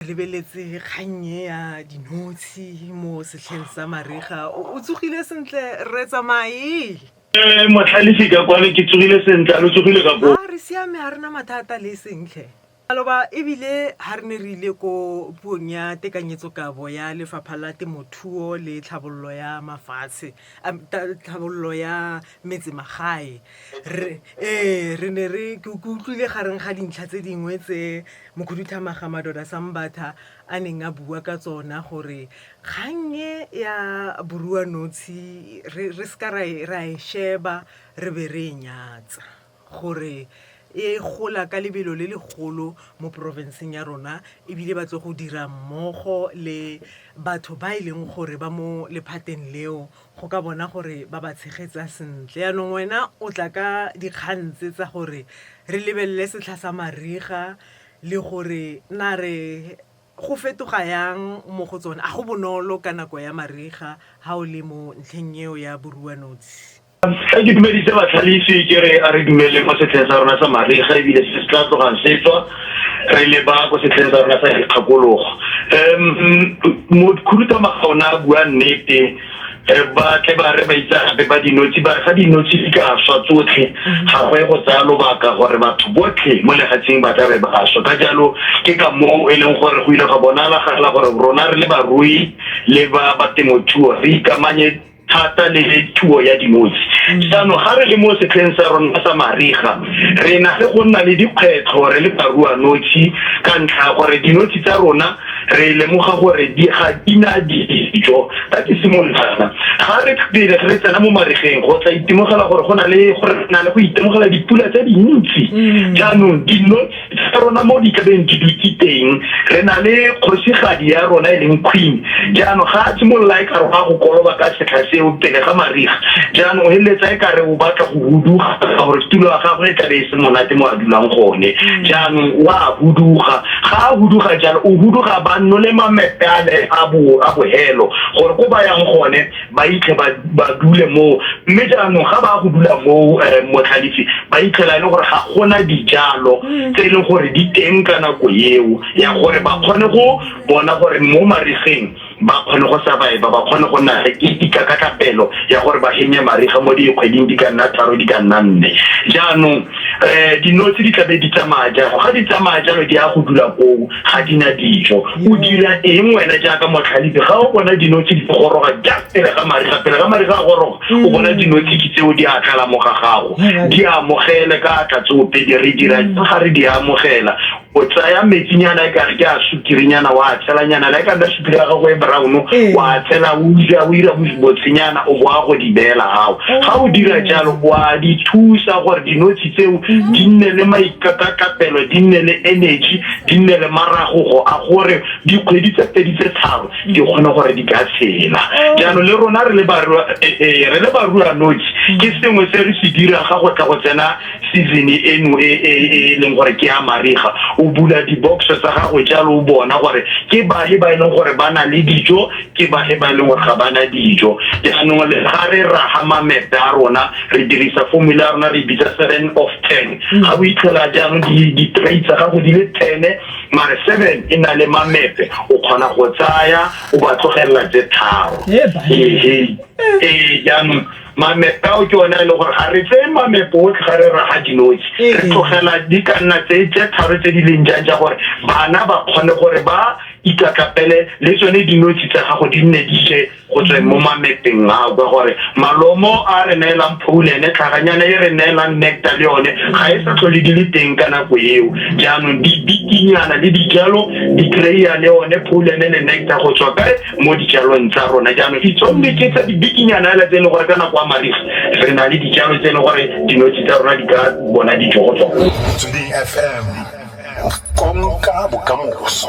lebeletse kgang e ya dinotshe mo setlheng sa mariga o tsogile sentle re tsamaye eh, motlhalisi ka kwano ke tsogile sentle a lo tsogile ka koo re siame ga rena mathata le sentle aloba ebile ga re ne re ile ko puong ya tekanyetsokabo ya lefapha la temothuo le tlhabololo ya mafatshe tlhabololo ya metsemagae ee re ne re ke utlwile gareng ga dintlha tse dingwe tse mokhuduthamaga madoda sambatha a neng a bua ka tsona gore kgannye ya borua notshe re seka ra e, e sheba re be re e nyatsa gore e gola ka lebelo le legolo mo porofenseng ya rona ebile ba tlo go dira mmogo le batho ba e leng gore ba mo lephateng leo go ka bona gore ba ba tshegetsa sentle yaanong wena o tla ka dikgang tse tsa gore re lebelele setlha sa mariga le gore na re go fetoga yang mo go tsone a go bonolo ka nako ya mariga ha o le mo ntlheng eo ya boruanotshe ga ke dumedise batlhalisi ke re a re dumeleng mo setlheng sa rona sa mariga ebile se se tla tlogang setswa re leba ko setlheng sa rona sa dikgakologo um khuduthamaga ona a bua nnete um ba tle ba re ba itsegape ba dinotshe ba re ga dinotshe di ka swa tsotlhe ga go e go tsaya lobaka gore batho botlhe mo legatsheng ba tlabe ba swa ka jalo ke ka moo e leng gore go ile ga bonalagala gore rona re le barui le ba ba temothuo re ikamanye thata le thuo ya dinotshe mm. jaanong ga re le mo setlheng sa rona sa mariga re na le go nna le dikgwetlho re le barua notshe ka ntlha gore dinotshe tsa rona re lemoga gore di ga di na dijo ka ke simolola ga re pele re tsena mo marigeng go tla itemogela gore go na le go na le go itemogela dipula tse dintsi mm. jaanong dinotshe tsa rona mo di tlabeng di dutse teng re na le kgosigadi ya rona e leng queen jaanong ga a simolola e ka re go a go koloba ka setlha seo pele ga mariga jaanong o feleletsa e kare o batla go huduga gore tulo ya gagwe e tlabe e se monate mo a dulang gone jaanong o a huduga ga a huduga jalo o huduga ba nole mamepe a bo a bohelo gore ko ba yang gone ba itlhe ba dule moo mme jaanong ga ba go dula moo eh, motlhalefi ba itlhela e le gore ga gona dijalo mm. tse e leng gore di teng ka nako eo ya gore ba kgone go bona gore mo mariseng ba kgone go survive ba kgone go nna le ikakatlapelo ya gore ba henye mariga mo dikgweding di ka nna tharo di ka nna nne jaanong um dinotshe di tlabe di tsamaya jalo ga di tsamaya jalo di ya go dula koo ga di na dijo o dira eng wena jaaka motlhalepi ga o bona dinotshi di goroga ja pele ga mariga pele ga mariga a goroga mm. o bona dinotshi ke tseo di a tlala mo ga gago di amogele ka tla tseopedi re dira mm. ga re di amogela o tsaya metsinyana e kare ke a sukirinyana wa tshelanyana le e kana sukiri ya gago e brown ee. wa tshela o dira o dira botshenyana o boa go di beela gago ga o dira oh. jalo wa di thusa gore dinotshi tseo mm-hmm. di nne le mai ka thapelo di nne le energy di nne le marago go a gore dikgwedi tse pedi tse tharo di kgone gore di ka tshela oh. jaanong le rona re le barua eh, eh, re le barua noji mm. ke sengwe se re se dira ga go tla go tsena season eno e, e, e, e leng gore ke ya mariga o bula di-box tsa gago jalo o bona gore ke bahe ba e leng gore ba na le dijo ke ba e ba e leng gore ga bana dijo jaanong le ga re raga mamepe a rona re dirisa formula ya rona re bitsa seven of ten mm. ga o itlhela jaanong di-tray tsa gago di le tene mare seven e na le mamepe o kgona go tsaya o ba tlogelela tse tharo ee ee jaanong mamepe ao ke one a e leng gore ga re tseye mamepe otlhe ga re raga dinotshe re ee. tlogela di ka nna tse tse tharo tse di leng jang ja gore bana ba kgone gore ba Itsatlapele le tsone dinotshe tsa gago di nne di je go tsweng mo mamepeng ao, ka gore malomo a re neelang phouline, tlhaganyana e re neelang nectar le yone ga e sa tlhole di le teng ka nako eo. Jaanong di bikinyana le dijalo di kry-a le one phouline le nectar go tswa kae mo dijalong tsa rona. Jaanong itsonne ke tsa dibikinyana fela tse e leng gore ka nako ya mariga re na le dijalo tse e leng gore dinotshe tsa rona di ka bona dijo go tsona. Motsweding FM, konka bokamoso.